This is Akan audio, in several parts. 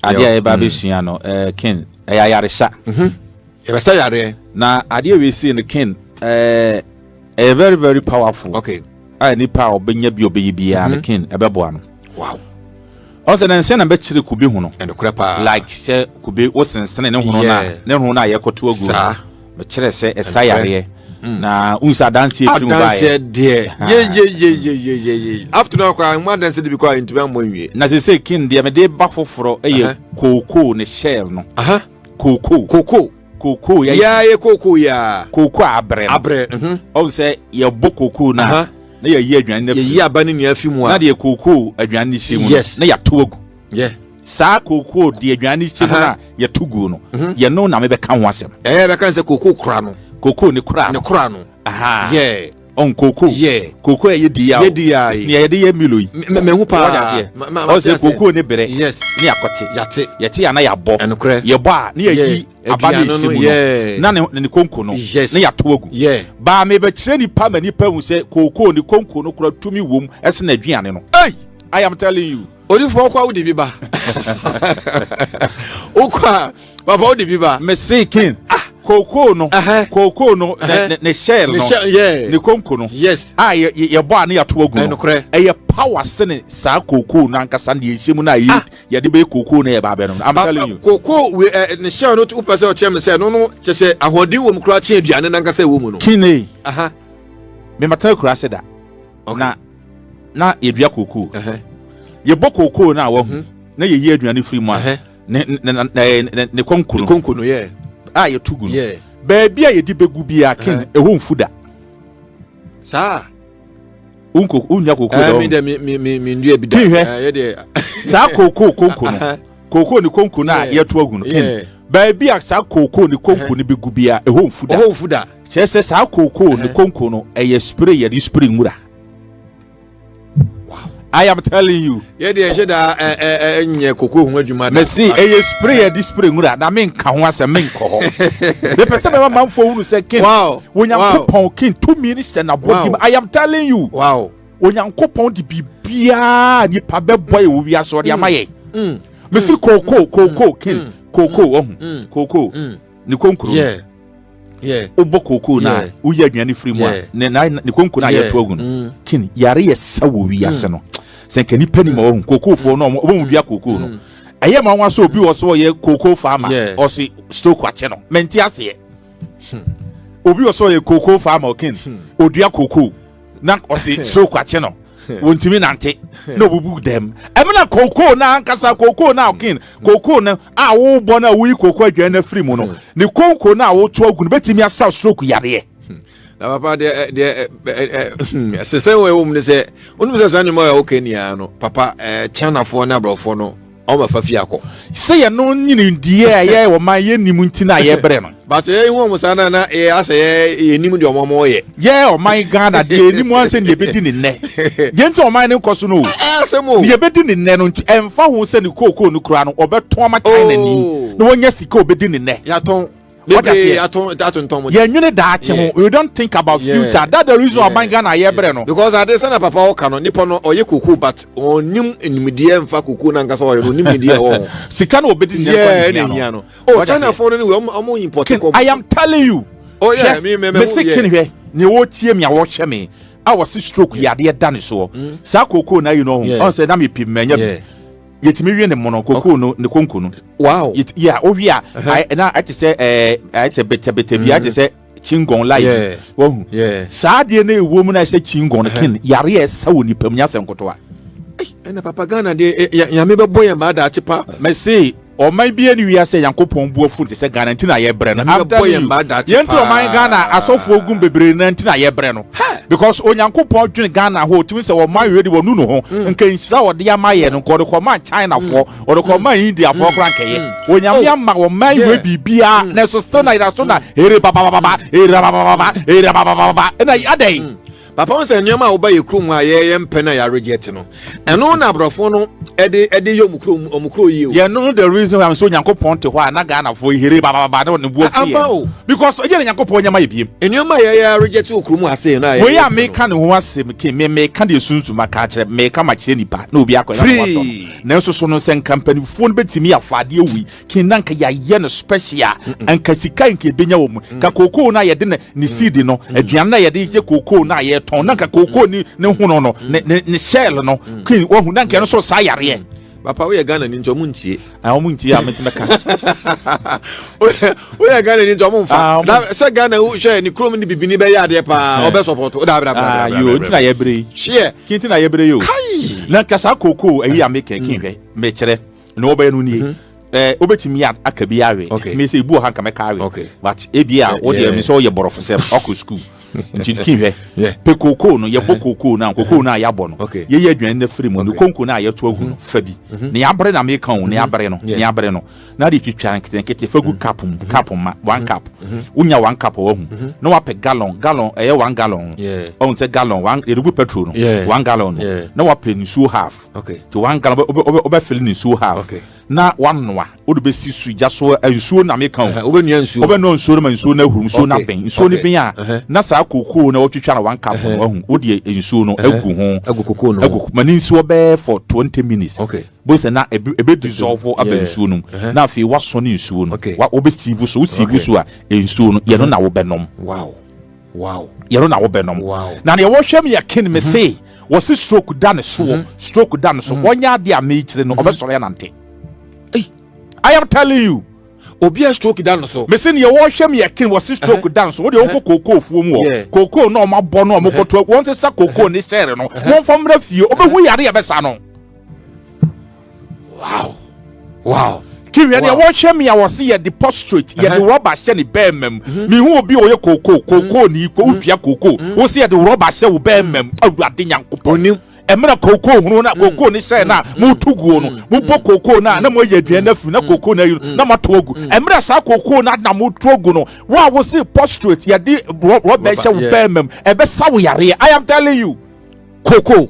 adeɛ a yɛba bɛsua no eh, ken ɛyɛ ayaresa mhm. yɛbɛsɛ yareɛ na adeɛ wei sei no ken eh, ɛyɛ very very powerful okay a nipa a ɔbɛnya bi ɔbɛyɛ biara no mhm. ken ɛbɛboa no wow ɔsɛ na nsɛn na bɛkyerɛ kube ho no ɛnokorɛ paa like sɛ kube wosensene ne ho no na ne ho no a yɛkɔto agu no mekyerɛ sɛ ɛsa yareɛ mm. na wohu sɛ adanseɛ firi mu baeɛ na sɛ sɛ ken deɛ mede ba foforɔ ɛyɛ kookoo ne shell no kookoo kookoo yɛ yɛ yɛ kookoo yɛ kookoo a abrɛ abrɛ mhm. ɔn sɛ yɛbɔ kookoo na na yɛyi aduane na fi yɛyi aba ne nea fi mu a na deɛ kookoo aduane ne hyɛ mu no na yɛato agu saa kookoo deɛ aduane ne hyɛ mu na yɛto guo no mhm. yɛno na mebɛka ho asɛm ɛyɛ bɛka sɛ kookoo kora no kookoo ne kora no ne kora no aha yɛ Ɔn kokoo. Yeah. Kokoo a yɛdi yi a o. Yɛdi yi a yi. Nea yɛde yɛ Milo yi. Me me ho paa. Wate aseɛ. Ma ma ma. Ɔsɛ kokoo ne berɛ. Yes. Ne akɔte. Yate. Yɛte a na yɛabɔ. Ɛnokorɛ. Yɛbɔ a ne yɛyi. Yeah. Aba ne ɛsi mu no. Yeah. Na ne ne konko no. Yes. Ne yɛato agu. Yeah. Baa mebɛkyerɛ nipa ma nipa hu sɛ kokoo ne konko no kora tumi wom ɛsene aduane no. Ei! I am telling you. odifoɔ wokɔ a wode bi ba wokɔ a papa wode bi ba mese ken ah! kookoo no kookoo no ne shell no ne konko no yes a yɛbɔ a ne yɛato agu no ɛyɛ power sene saa kookoo no ankasa ne yɛhyɛ mu no a ah! yɛde bɛyɛ kookoo no yɛba abɛ no I'm telling you kookoo ne shell no wopɛ sɛ ɔkyerɛ me sɛ ɛno no kyɛ sɛ ahoɔden wɔ mu koraa kye aduane no ankasa ɛwɔ mu no kine memata akura ase da na na yɛdua kookoo yɛbɔ kookoo no a wahu mhm. na yɛyi aduane firi mu a ne kɔnko no a yɛto gu no baabi a yɛde bɛgu biaa ken ɛhɔ mfu da saa wonya kookoo dɛ saa kookoo konko no kookoo ne konko no a yɛto agu no baabi a saa kookoo ne konko no bɛgu bia ɛhɔ mfu da mfu da kyerɛ sɛ saa kookoo ne konko no ɛyɛ spray yɛde spray nwura I am telling you. Yɛ deɛ ɛhyɛ da ɛ ɛ ɛ nyɛ koko ho adwuma da. Mɛsi ɛyɛ spray yɛ di spray nwura na mi nka ho asɛm mi nkɔ hɔ. Mepɛ sɛ mɛma manfo hunu sɛ kin. Wow. Wonyankopɔn kin tumi ni sɛ na bɔ di ma. I am telling you. Wow. Onyankopɔn de biribiara nipa bɛbɔ yɛ wɔ wiase ɔde ama yɛ. Mesi kookoo kookoo kin kookoo ɔhu kookoo ne konkuro no. Wobɔ kookoo no a woyɛ aduane firi mu a ne konkuro no a yɛto agu no kin yare yɛ sa wɔ wiase no. Sɛ nka nipa nim ɔhu kookoofoɔ no ɔmo dua kookoo no. ɛyɛ ma wɔn asɔ obi wɔ so ɔyɛ kookoo faama ɔsi stroke akyɛ no mɛnti aseɛ obi wɔ so ɔyɛ kookoo faama ɔkin odua kookoo. na ɔsi stroke akye no wɔntumi nante na ɔbubu dɛm ɛmu na kookoo na ankasa kookoo na ɔkin kookoo na a wɔrebɔ na wɔyi kookoo adwan na firi mu no ne kookoo na wɔreto agu no bɛtumi asaw stroke yareɛ. na papa deɛ deɛ ɛsesɛ wɔ ɛwɔ mu ne sɛ wonim sɛ saa nneɛma a wɔka nyinaa no papa kyanafoɔ ne aborɔfoɔ no Ɔma fa fie akɔ. Sɛ yɛ no nyini diɛ a yɛ wɔ ma yɛ nim nti na yɛ brɛ no. But yɛ hu ɔmo saa na na yɛ asɛ yɛ yɛ nim deɛ ɔmo ɔmo yɛ. Yɛ ɔman Ghana deɛ yɛ nim an sɛ neɛ bɛdi ne nnɛ. Deɛ nti ɔman no nkɔ so no o. Ɛyɛ asɛm o. Neɛ bɛdi ne nnɛ no nti ɛnfa ho sɛ ne kookoo no kura no ɔbɛtɔn ama China ni na wanya sika ɔbɛdi ne nnɛ. Yatɔn. What does he? You know that yeah. you don't think about yeah. future. That the reason yeah. why Ghana yeah. yeah. no. Because I did send papa oka no nipa no oye kuku but onim enimidie mfa kuku na nkasa oye onim idie o. Sika no obedi ne kwa ne hia no. Oh China phone ni we omo import ko. I am telling you. Oh yeah, me me me. Me sikin hwe. Ne wo tie me a wo hwe me. A wo se stroke yade da ne so. Sa kuku na you know. On say na me pim me nya. yɛtumi wie ne mono kokoo no ne konko no wow yeah wowie a na ɛte sɛ ɛɛ ɛte sɛ betɛbetɛ bi ɛte sɛ chingon live wahu saa adeɛ no ɛwɔ mu na ɛsɛ chingon ken yare a ɛsa wɔ nipa mu nyɛ asɛ nkotoa ɛna papa ghana deɛ nyame bɛbɔ yɛn maa daakye pa mɛse ɔman bi ani wia sɛ yankopɔn bu afu te sɛ ghana nti na yɛbrɛ no yɛnti ɔman ghana asɔfoɔ gum bebree no nti na yɛbrɛ no Because Onyankopɔn dwene Ghana ho otumi sɛ wɔn ayɛ de wɔnu no ho mm. nka nhyira wɔde ama yɛ no nka wɔde kɔma Chinafoɔ mm. wɔde kɔma mm. Indiafoɔ koraa nkɛyɛ Onyame oh. ama wɔn man yɛ biribiara na ɛso still na yɛda so na ere babababa ere babababa ere babababa ɛna adɛn papa wọn sɛ nneɛma a wɔba yɛ kurom a yɛyɛ mpɛ na yɛaregye te no ɛno na aborɔfo no ɛde ɛde yɛ ɔmo kuro ɔmo kuro yie o. yɛn no the reason why so nyankopɔn te hɔ a na ghanafo ehere bababa ne ne buo fi yɛn because ɛyɛ ne nyankopɔn nyɛma yɛ biem. nneɛma yɛ yɛ aregyɛ te okuro mu ase na yɛ. wei a meka ne ho asɛm ke me meka deɛ sunsun ma ka kyerɛ meka ma kyerɛ nipa na obi akɔ ɛna na watɔ no nanso so no sɛ nka mpanimfoɔ no bɛtumi afa adeɛ wei kin na nka yɛayɛ no special a nka sika nka ebenya wɔ mu nka kookoo no a yɛde ne seed no aduane no a yɛde yɛ kookoo no a yɛtɔn na nka kookoo ne ne hono no ne ne shell no kin wahu na nka ɛno nso saa yareɛ papa woyɛ ghana ni nti ɔmo ntie ah, ɔmo ntie a mɛtumi ka woyɛ ghana ni nti ɔmo nfa ah, na sɛ ghana hwɛ ne kurom ne bibini bɛyɛ adeɛ paa eh. ɔbɛ sɔpɔt o daabira bila bila bila yoo ntina yɛ bere yi seɛ kintina yɛ bere yi o na nkasa kookoo ayi a mekɛ kin hwɛ mɛkyerɛ na ɔbɛyɛ no nie ɛɛ wobɛtumi aka bi awe ɛtumi sɛ ebu ɔha nka mɛka awe but ebi a wode ɛmi sɛ ɔyɛ bɔrɔfo sɛm ɔkɔ sukuu nti ki hwɛ pe kookoo no yɛbɔ kookoo no a kookoo no a yɛabɔ no yɛyɛ aduane no afiri mu ne konko no a yɛto agu no fa bi ne yɛabere na meka o ne yɛabere no ne yɛabere no na de twitwa nketenkete fa gu cup mu cup ma one cup wonya one cup wahu na wapɛ gallon gallon ɛyɛ one gallon ɔhu sɛ gallon yɛde gu petrol no one gallon no na wapɛ nsuo half okay to one gallon obe obe obe fill ne nsuo half okay na wanoa wode bɛsi su gya so eh, nsuo na meka o wobɛnua nsuo wobɛnua nsuo no ma nsuo no ahuru nsuo no abɛn nsuo no bɛn a na saa kokoo na wɔtwitwa na one cup no ahu wodeɛ nsuo no agu ho agu kokoo no agu ma ne nsuo bɛɛ for 20 minutes okay bó sɛ na ebe dissolve aba nsuo no mu na afei wasɔ ne nsuo no wobɛsiivu so wosiivu so a nsuo no yɛno na wobɛnom wow yɛro na wobɛnom na deɛ wɔhwɛ m yɛ ken me mhm. se wɔse stroke da ne soɔ mhm. stroke da ne so mhm. ɔnyɛ adeɛ a mekyire no ɔbɛsɔre anante i am telling you obi a stroke da no so. mesi nea wɔhwɛ mi ɛkin wɔ si stroke da no so o de o kɔ kookoo fuo mu wɔ kookoo na ɔmo abɔ na ɔmo kɔtɔ wɔn sisa kookoo ne sɛɛrɛ no wɔn fɔ mmerɛ fie o bɛ hu yare yɛ bɛ sa no. wow wow kiriɛ deɛ wɔhwɛ me a wɔse yɛde postrate yɛde rɔba hyɛ ne bɛɛma mu mhm. mehu obi a ɔyɛ kookoo kookoo ne ko wotua kookoo mhm. wo se yɛde rɔba hyɛ wo bɛɛma mu awurade nyankopɔn ɛmena kookoo hunu na mm. kookoo ne hyɛn na mm. moto guo no mm. mobɔ kookoo no a na moayɛ aduane no afiri na kookoo no ayi na moato agu ɛmena saa kookoo no na moto agu no wo a wose postrate yɛde rɔba hyɛ wo bɛɛma mu ɛbɛsa wo yareɛ i am telling you kookoo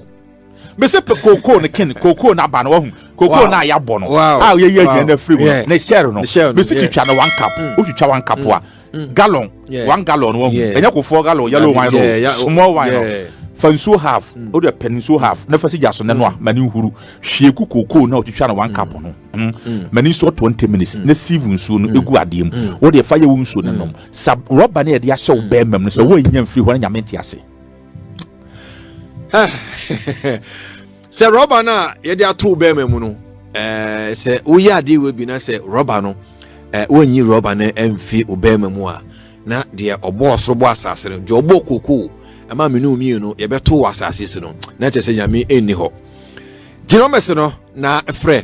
mese kookoo no ken kookoo no aba no wahu kookoo no a yɛabɔ no a yɛyɛ aduane no afiri mu no ne share no mese twitwa no one cup mm. wotwitwa one cup a mm. Mm. gallon one gallon wahu ɛnyɛ kofoɔ gallon yellow wine no small wine no fa nsuo half wode pɛ no nsuo half na fa si gya so nɛno a ma ne nhuru hwie ku kookoo no a wotwitwa no one cup no ma ne nsuo twenty minutes na sieve nsuo no ɛgu adeɛ mu wode fa yɛ wo nsuo no nom sa rɔba ne yɛde ahyɛ wo bɛɛmam no sɛ woannya mfiri hɔ no nyame nte ase sɛ rɔba no a yɛde ato bɛrima mu no eh, sɛ woyɛ adeɛ wɔ bi na sɛ rɔba no eh, wonyi rɔba no mfi obɛrima mu a na deɛ ɔbɔ ɔsoro bɔ asase no deɛ ɔbɔ kokoo ɛma mene omie no yɛbɛto wɔ asase so no na kyerɛ sɛ nyame ɛnni hɔ gyina ɔmɛse no na frɛ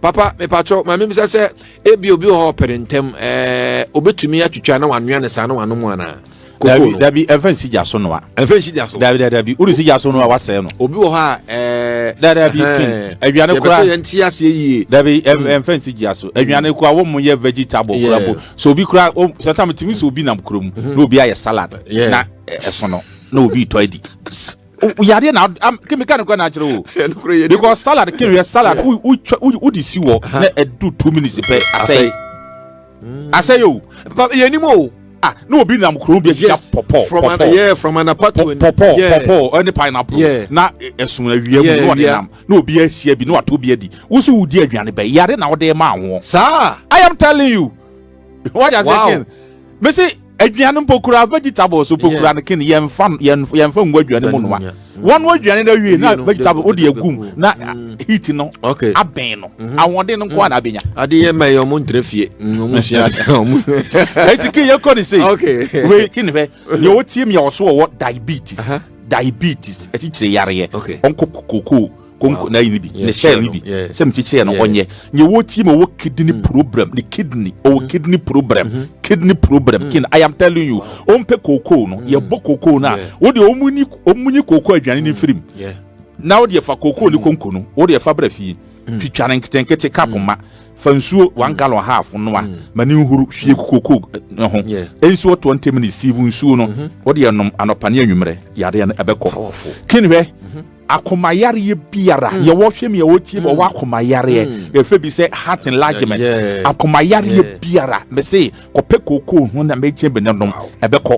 papa mepatwɔ ma mebisa sɛ ebi obi wɔ hɔ ɔpere ntɛm ɛɛ obetumi atwitwa na wanoa ne saa na wanom anaa koko no dabi ɛnfɛ nsi gya so noa ɛnfɛ nsi gya so dabi dabi dabi wode si gya so noa wasɛe no obi wɔ hɔ a ɛɛ dabi dabi kin aduane kora yɛbɛsɛ yɛn ti aseɛ yie dabi hmm. ɛnfɛ nsi gya so aduane kora wɔn mo yɛ vegetable kora po so obi kora sɛntam timi so obi nam kurom hmm. na obi ayɛ salad na ɛsono na obi tɔ adi yadeɛ na kemi ka ne kura na akyerɛ o because salad kemi yɛ salad wo de si wɔ na ɛdu two minutes pɛ asɛe asɛe o yɛ nim o ah na obi nam kurom bi ahyia pɔpɔ pɔpɔ yeah from anapatu pɔpɔ pɔpɔ ɛne pineapple na ɛso na wia mu na ɔde nam na obi ahyia bi na wato bi adi wosi wodi aduane bɛyɛ yare na ɔde ma ahoɔ saa i am telling you. wọ́n yà sẹ́ kin mi si aduane mpo kura vegetable so mpo kura no kin yɛn fa yɛn yɛn fa ngu aduane mu nua wɔn wɔ aduane na wie na vegetable o de egum na mm. heat no abɛn no mhm. ahoɔden no nko a na mm. abɛnya. ade yɛ mɛ yɛ ɔmo ntere fie mm, ɔmo sua ade ɔmo. eti kin yɛ kɔ ne se wei kin fɛ yɛ o tie mi yɛ ɔso ɔwɔ diabetes diabetes ɛkyikyiri yareɛ ɔnkɔ kokoo. konko na ayi ne bi ne sɛ ne bi sɛ mete kyerɛ no ɔnyɛ nyɛ wɔ tie ma wɔ kidney mm. problem ne kidney ɔwɔ mm. kidney problem mm-hmm. kidney problem mm. kin i am telling you ɔmpɛ kookoo no yɛbɔ kookoo no a wode ɔmunyi kookoo aduane no mfirim na wode ɛfa kookoo ne konko no wode ɛfa brɛ fie twitwa no nketenkete ka poma fa nsuo one gallon half noa ma ne nhuru hwie kookoo eh, ho nsuo twenty minutes siivu nsuo no mm-hmm. wode ɛnom anɔpa ne anwummerɛ yadeɛ no ɛbɛkɔ kin hwɛ mm-hmm. akoma yareɛ biara mm. yɛwɔ hwɛ mi a wɔtie bɔ mm. wɔ akoma yareɛ mm. yɛfɛ bi sɛ heart enlargement akoma yareɛ biara mese kɔpɛ kookoo ho na mɛkyɛ bi ne nom ɛbɛkɔ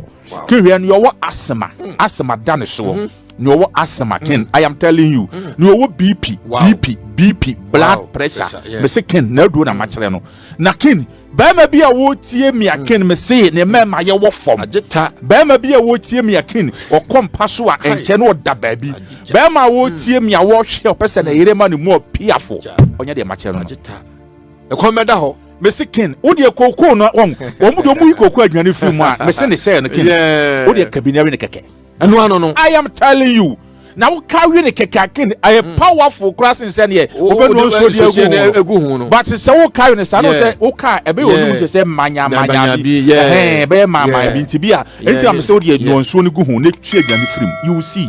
kewia no yɛwɔ asema asema da ne soɔ mm-hmm. na ɔwɔ asthma ken i am telling you na ɔwɔ bp bp bp blood pressure mese ken na aduo na makyerɛ no na ken Barima bi a wɔretie me akin hmm. mesee ne mmarima yɛ wɔ fam barima bi a wɔretie me akin ɔkɔ mpa so a ɛnkyɛ na ɔda baabi barima a wɔretie me a wɔrehwɛ ɔpɛ sɛ na yere ma ne mu ɔpiafo ɔnyɛ deɛ makyɛ no ɛkɔn bɛda hɔ mesi kin o deɛ kookoo no wɔn wɔn de wɔn yi kookoo aduane firi mu a mesi ne sɛɛ no kin o deɛ kabinari ne kɛkɛ. ɛno ano no. I am telling you na wo carry ne kɛkɛakin ɛyɛ hmm. powerful kora sen sɛ neɛ wobɛnu nsuo deɛ ɛgu ho no but sɛ wo carry ne saa no sɛ wo car ɛbɛyɛ ɔnum kyɛ sɛ manyamanya bi ɛhɛn ɛbɛyɛ maamaa bi nti bi a ɛnti na mesɛ wode ɛnu nsuo no gu ho na ɛtwi aduane firim you see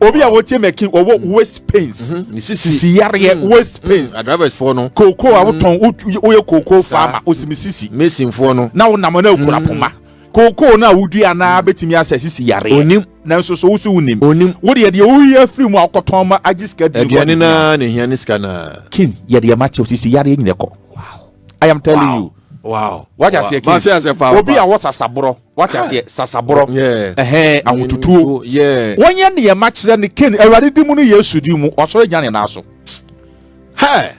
obi a wɔtie mɛkin wɔwɔ mm-hmm. waist pains mm-hmm. sisi yareɛ mm-hmm. waist pains drivers foɔ no koko a wotɔn woyɛ koko farmer osimi sisi mason foɔ no na wonam na ekura poma koko na wodua na betumi asɛ sisi yareɛ onim nanso so woso wonim onim wode yɛdeɛ woyi afiri mu akɔtɔn ma agye sika di aduane na ne hia ne sika na kin yɛdeɛ ma kyɛw sisi yareɛ nyina kɔ wow i am telling wow. you wow wagye aseɛ kin obi a wɔsasaborɔ Wate aseɛ? Sasaborɔ. Ɛhɛn, ahotutuo. Wɔnyɛ nneɛma kyerɛ ne Cain, Awurade di mu ne Yesu di mu, wasɔre agyina ne nan so. Hɛ!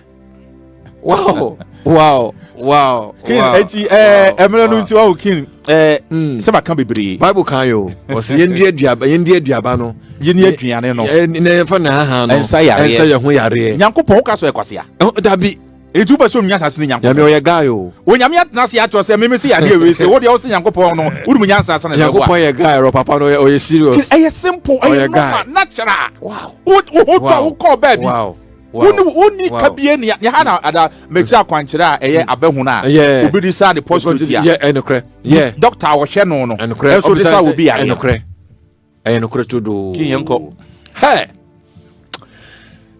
Wow! Wow! wow kin eti ɛɛ ɛmɛrɛ no nti wawo kin ɛɛ sɛba kan bebree. bible kan yi o ɔsi yɛn di aduaba yɛn di aduaba no. yɛn ni aduane no. ɛɛ na yɛn fa na ahan no. ɛnsa yareɛ ɛnsa yɛn ho yareɛ. nyankopɔn o ka so ɛkwasi a. dabi. Enti wopɛ sɛ onua asase ne Nyankopɔn? Nyame ɔyɛ guy o. Onyame atena ase akyerɛ sɛ meme se yadeɛ wei se wodeɛ wose Nyankopɔn no wodum nyansa asa na Nyankopɔn yɛ guy rɔ papa no ɔyɛ serious. Ɛyɛ simple ɛyɛ normal natural. Wo ho tɔ wo kɔɔ baabi. Wow. wonni ka bie ne ha na ada mɛkyerɛ akwankyerɛ a ɛyɛ hmm. abɛhono a obi de saa ne postutia dɔkta a wɔhwɛ no no ɛnso de sa obi adeɛ ɛyɛ nokorɛ todoo king yɛnkɔ hɛ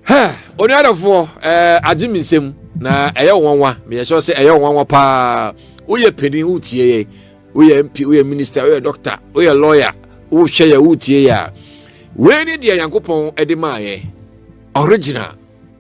hɛ onuadɔfoɔ ɛɛ agye me nsɛm na ɛyɛ nwanwa meyɛ sɛ sɛ ɛyɛ nwanwa paa woyɛ panin wotie yɛ woyɛ mp woyɛ minister woyɛ doctor woyɛ lawyer wohwɛ yɛ wotie yɛ a wei ne deɛ nyankopɔn de maayɛ original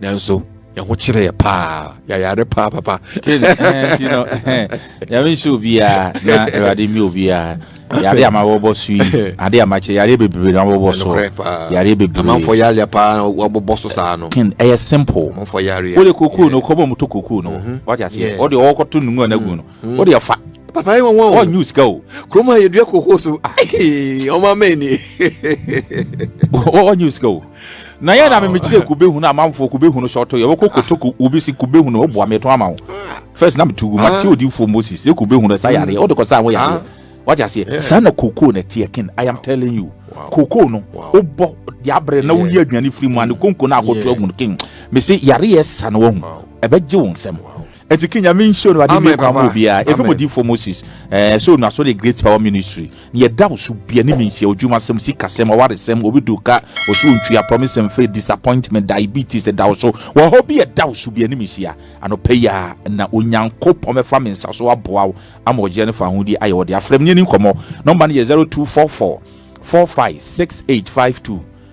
nanso yɛn ho kyerɛ yɛ paa yɛayare paa papa nti no yɛme nhyɛ obiaa na awurade mmɛ obiaa yare ama wɔbɔ so yi ade amakyɛ yare bebree na wɔbɔ so yare bebreeamanfoɔ yare paa na wɔbɔ so saa no ken ɛyɛ simple amanfoɔ yare wode kokoo no kɔbɔ mu to kokoo no mhm. wate aseɛ ɔde ɔwɔkɔto nnumu a no agu no hmm. wode ɛfa papa yɛ wɔn wɔn ɔnyu sika o kurom a yɛdua koko so ɔmo ama ni ɔnyu sika o na yɛn na mimi kyerɛ kube hunu amanfoɔ kube hunu sɔɔtɔ yɛ wɔkɔ koto obi si kube hunu ɔbu ame to ama o ah. first na mi tu gu ma ti ah. odi fo moses sɛ kube hunu ɛsa yareɛ ɔde kɔ sa ho yareɛ ah. wati aseɛ saa na koko na tiɛ kin i am telling you koko no o bɔ yabrɛ na o yi aduane firi mu ani konko na akoto agun kin mesi yareɛ sa na wɔn ɛbɛ gye wɔn nsɛm. Eti ke Nyame nhyira Awurade mmie kwan ma obiara. Efi mo difoɔ Moses eh, so nuaso de Great Power Ministry. Nea ɛda wo so bia ne menhyia odwumasɛm, sikasɛm, ɔwaresɛm, obi du ka, ɔsoro ntwea, promise mfiri, disappointment, diabetes ɛda wo so. Wɔ hɔ bi ɛda wo so bia ne menhyia. Anɔpa yi ara na Onyankopɔn bɛfa me nsa so aboa wo ama ɔgyeɛ ne fahodie ayɛ wo de. Afrɛ me ne yɛni nkɔmmɔ. Nɔmba no yɛ 0244 456852.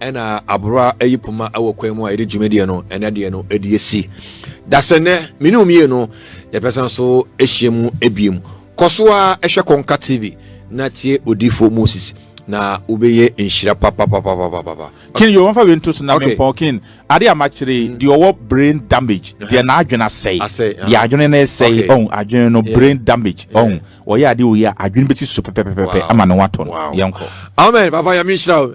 Ɛna aboroa yi poma wɔ kwan mu a yɛde dwumadie no ɛnɛ deɛ no ɛde asi dasɛ nnɛ mene omie no yɛpɛsan so ahyia mu ebiem kɔ so a ɛhwɛ kɔnka tv na tie odiifo moses na wobɛyɛ nhyira papapapapapa kin yɛ wɔmfa wei nto so na mempɔn kin ade a makyere mm. deɛ ɔwɔ brain damage deɛ uh-huh. n'adwene asɛe uh-huh. deɛ adwene no ɛsɛe ɔn adwene no brain damage ɔn ɔyɛ ade wei a adwene bɛsi so pɛpɛpɛpɛ ama ne ho atɔ no yɛnkɔ amen papa yɛme nhyira